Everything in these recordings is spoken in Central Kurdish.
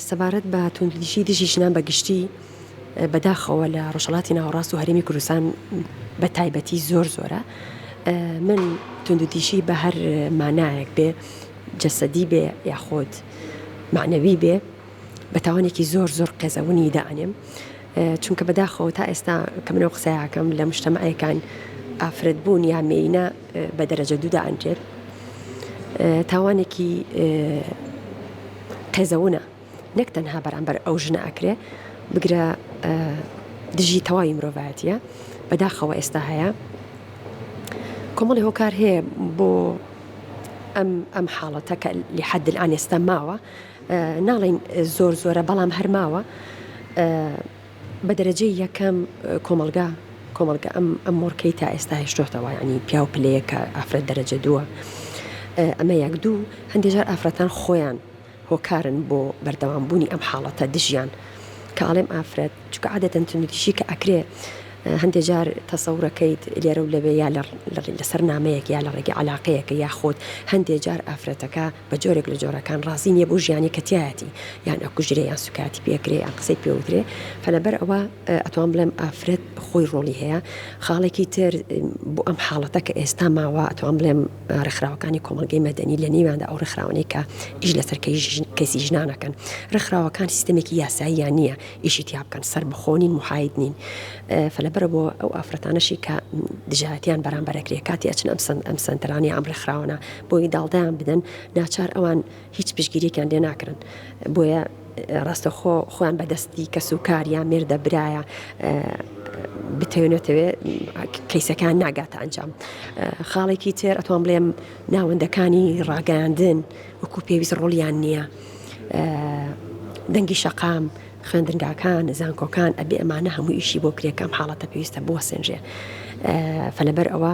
سەبارەت بە توندوتیژی دژی ژنان بە گشتی، بەداخەوە لە ڕۆژهەڵاتی ناوەڕاست و هەرێمی کوردستان بە تایبەتی زۆر زۆرە. من توندوتیژی بە هەر مانایەک بێ، جەسەدی بێ یاخود مەعنەوی بێ، بە تاوانێکی زۆر زۆر قێزەونی دائەنێم. چونکە بەداخەوە تا ئێستا کە من ئەو قسەیە ئەکەم لە مشتەمەعێکان ئافرەتبوون یا مێینە بە دەرەجە دوو دائەنرێت. تاوانێکی قێزەونە نەک تەنها بەرامبەر ئەو ژنە ئەکرێ بگرە دژی تەواوی مرۆڤایەتە بەداخەوە ئێستا هەیە کۆمەڵی هۆکار هەیە بۆ ئەم ئەم حاڵەتە کە لی حەدل ئان ئێستا ماوە ناڵین زۆر زۆرە بەڵام هەرماوە بە دەرەجەی یەکەم کۆمەڵگا کۆمەڵگا ئەم ئەم مۆرکەی تا ئێستا هێشتۆتەوە ینی پیاو پلەیە کە ئافرەت دەرەجە دووە ئەمە یەک دوو هەندێجار ئافرەتان خۆیان هۆکارن بۆ بەردەوامبوونی ئەم حاڵەتە دژیان کە ئاڵێم ئافرەت چکە عادەتەن تونریشی کە ئەکرێ هەندێک جار تەسەورەکەیت لێرە و لەوێ یا لەسەر نامەیەک یا لە ڕێگە علاقەیەکە یاخۆت هەندێک جار ئافرەتەکە بە جۆرێک لە جۆرەکان ڕازی نییە بۆ ژیانی کە تیایەتی یان ئەکوژرێ یان سوکایەتی پێ ئەکرێ یان قسەی پێ وترێ فە لەبەر ئەوە ئەتوان بڵێم ئافرەت خۆی ڕۆڵی هەیە خاڵێکی تر بۆ ئەم حاڵەتە کە ئێستا ماوە ئەتوان بڵێم ڕێکخراوەکانی کۆمەڵگەی مەدەنی لە نێواندا ئەو ڕێکخراوانەی کە ئیش لەسەر کەسی ژنانەکەن ڕێکخراوەکان سیستمێکی یاساییان نییە ئیشی تیا بکەن سەر بخۆنین محاید نین فە لەبەر بۆ ئەو ئافرەتانەشی کە دژایەتیان بەرامبەرەکرێ کاتی ئەچن ئەم سند ئەم سنتەرانی ئەم ڕێکخراوانە بۆی داڵدەیان بدەن ناچار ئەوان هیچ پشگیریێکیان لێ ناکرن بۆیە ڕاستەخۆ خۆیان بەدەستی کەس و کاریان مێردە برایە بتەوێنێتەوێ کەیسەکان ناگاتە ئەنجام خاڵێکی تێر ئەتوان بڵێم ناوەندەکانی ڕاگەاندن وەکو پێویست ڕۆڵیان نییە دەنگی شەقام خوێندنگاکان زانکۆکان ئەبێ ئەمانە هەموو ئیشی بۆ کرێکەم حاڵەتە پێویستە بوەسێنرێ فەلەبەر ئەوە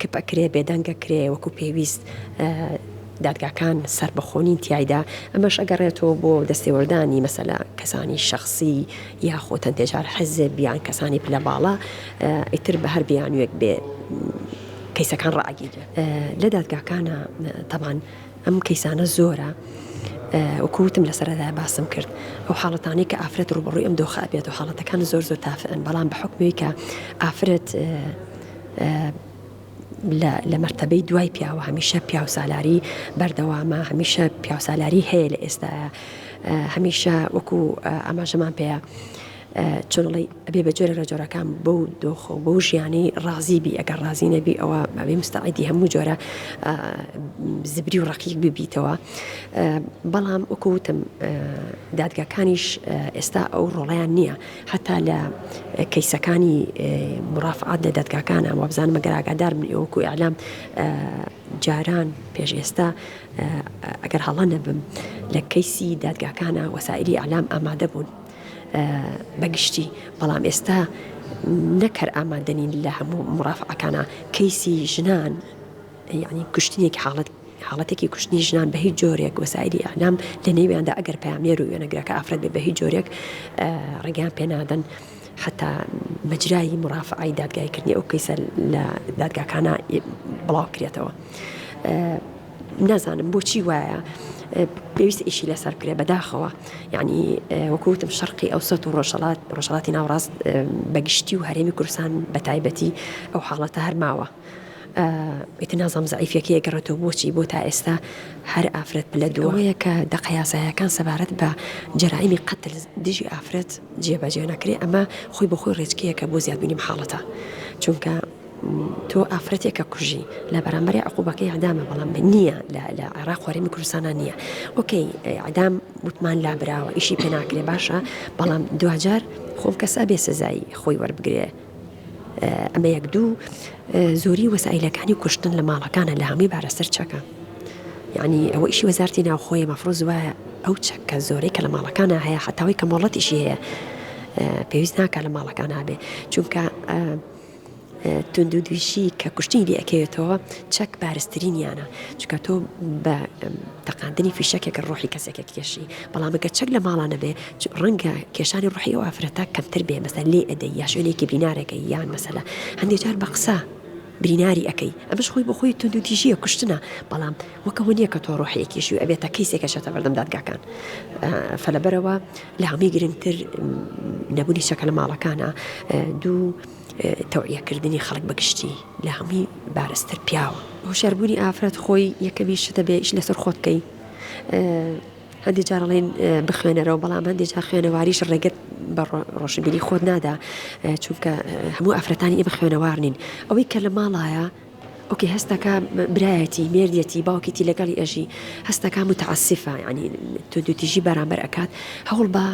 کپ ئەکرێ بێدەنگ ئەکرێ وەکو پێویست دادگاکان سەربەخۆ نین تیایدا ئەمەش ئەگەڕێتەوە بۆ دەستێوەردانی مەسەلا کەسانی شخصی یاخۆ تەنتێجار حەزێب یان کەسانی پلە باڵا ئیتر بە هەر بیانوێک بێ کەیسەکان ڕاگیرێت لە دادگاکانە تەبان ئەم کەیسانە زۆرە وەکو وتم لە سەرەدای باسم کرد ئەو حاڵەتانەی کە ئافرەت ڕوبڕوی ئەم دۆخە ئەبێت و حاڵەتەکان زۆر زۆر تافئن بەڵام بە حکمەوەی کە ئافرەت لە مرتبەی دوای پیاوە هەمیشە پیاوسالاری بەردەوامە هەمیشە پیاوسالاری هەیە لە ئێستاە هەمیشە وەکو ئاماژەمان پێەیە چۆن ئەڵێی ئەبێ بە جۆرە لە جۆرەکان بەو دۆخە و بەو ژیانی ڕازی بی ئەگەر ڕازی نەبی ئەوە ئەبێ مستعدی هەموو جۆرە زبری و ڕقیق ببیتەوە بەڵام وەکوتم دادگاکانیش ئێستا ئەو ڕۆڵیان نییە حتا لە کەیسەکانی مرافعات لە دادگاکانە وابزان مەگەر ئاگادار من ئەوکو ئەلام جاران پێش ئێستا ئەگەر هەڵە نەبم لە کەیسی دادگاکانە وەسائری ئەلام ئامادە بوون بەگشتی بەڵام ئێستا نەک هەر ئامادەنین لە هەموو مڕافعەکانە کەیسی ژنان یعنی کوشتنێک حاڵەت حاڵەتێکی کوشتنی ژنان بە هیچ جۆرێک وەسایلی ئەنام لە نێویاندا ئەگەر پامێر و وێنەگرەکە ئافرەت بێ بە هیچ جۆرێک ڕێگەیان پێنادەن حتا مەجرایی مڕافعی دادگایکردنی ئەو کەیسە لە دادگاکانە بڵاوکرێتەوە. نازانم بۆچی وایە پێویست ئیشی لەسەر بکرێ بەداخەوە یعنی وەکوتم شەرقی ئەو سەت و ڕۆژەڵات ڕۆژەڵاتی ناوڕاست بەگشتی و هەرێمی کورسان بە تایبەتی ئەو حاڵەتە هەرماوە. ئیتر نازام زعیفەکە گەڕێتەوە بۆچی بۆ تا ئێستا هەر ئافرەت پلە دوەیە کە دەقەیاسایەکان سەبارەت بە جەرائمی قەتل دژی ئافرەت جێبەجێ نەکرێ ئەمە خۆی بە خۆی ڕێچکەیەکە بۆ زیادبینی حاڵەتە چونکە تۆ ئافرەتێکە کوژی لە بەرامبەری عقوبەکەی عدامە بەڵام نییە لە عێراق خۆرێمی کوردستانە نییە ئۆکەی عدام وتمان لابراوە ئیشی پێناکرێ باشە بەڵام دوجار خۆم کەسا بێ سزایی خۆی وەربگرێ ئەمە یەک دوو زۆری وەسائلەکانی کوشتن لە ماڵەکانە لە هەمووی بارە سەر چەکە یعنی ئەوە ئیشی وەزارتی ناوخۆی مەفرۆز وایە ئەو چەکە زۆرەی کە لە ماڵەکانە هەیە حتاوی کە مۆڵەتیشی هەیە پێویست ناکە لە ماڵەکان هابێ چونکە توندوتیژی کە کوشتنی لێ ئەکەوێتەوە چەک بارسترینیانە چکە تۆ بە تەقاندنی فیشەکێک ڕۆحی کەسێکێک کێشی بەڵامەکە چەک لە ماڵانە بێ ڕەنگە کێشانی ڕحی و ئافرەتە کەمتر بێ مەسە لێ ئەدەی یا شوێنێکی بینارەکە یان مەسەلا هەندێک جار بە قسە بریناری ئەەکەی ئەمەش خۆی بەخۆی توندوتیژیە کوشتنە بەڵام وەک ئەوە نیە کە تۆ ڕۆحێکی کێشیوی ئەبێت تا کەیسێک ئەچێتە بەردەم دادگاکان فە لەبەرەوە لە هەمووی گرنگتر نەبوونی چەکە لە ماڵەکانە دوو تەوعیەکردنی خەڵک بەگشتی لە هەمووی بارستر پیاوە هۆشاربوونی ئافرەت خۆی یەکەمی شتە بێش لەسەر خۆت بکەی هەندی جارڵێن بخوێنەرەوە بەڵام هەندی جا خوێنەواریش ڕێگەت بە ڕۆشنبیری خۆت نادا چونکە هەموو ئافرەتانی ئێمە خوێنەوار نین ئەوەی کە لە ماڵایە ئۆکەی هەستەکا برایەتی مێردیەتی باوکیتی لەگەڵی ئەژی هەستەکا متعسیفە ینی تو دوتیژی بەرامبەر ئەکات هەوڵ بە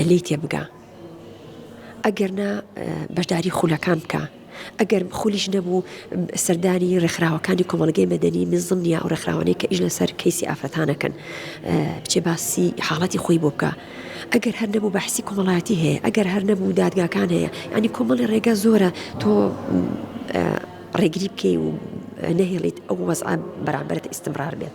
لی تێبگا ئەگەر نا بەشداری خولەکان بکە ئەگەر خولیش نەبوو سەردانی ڕێکخراوەکانی کۆمەلگەی مەدەنی نزم نیە و ڕێکخراوانەی کە ئیش لەسەر کەیسی ئافرەتانەکەن بچێ باسی حاڵەتی خۆی بۆ بکە ئەگەر هەر نەبوو بەحسی کۆمەڵایەتی هەیە ئەگەر هەر نەبوو دادگاکان هەیە ینی کۆمەڵی ڕێگە زۆرە تۆ ڕێگری بکەی و نەهێڵیت ئەو وەز بەرامبرت ئیسمرار بێت.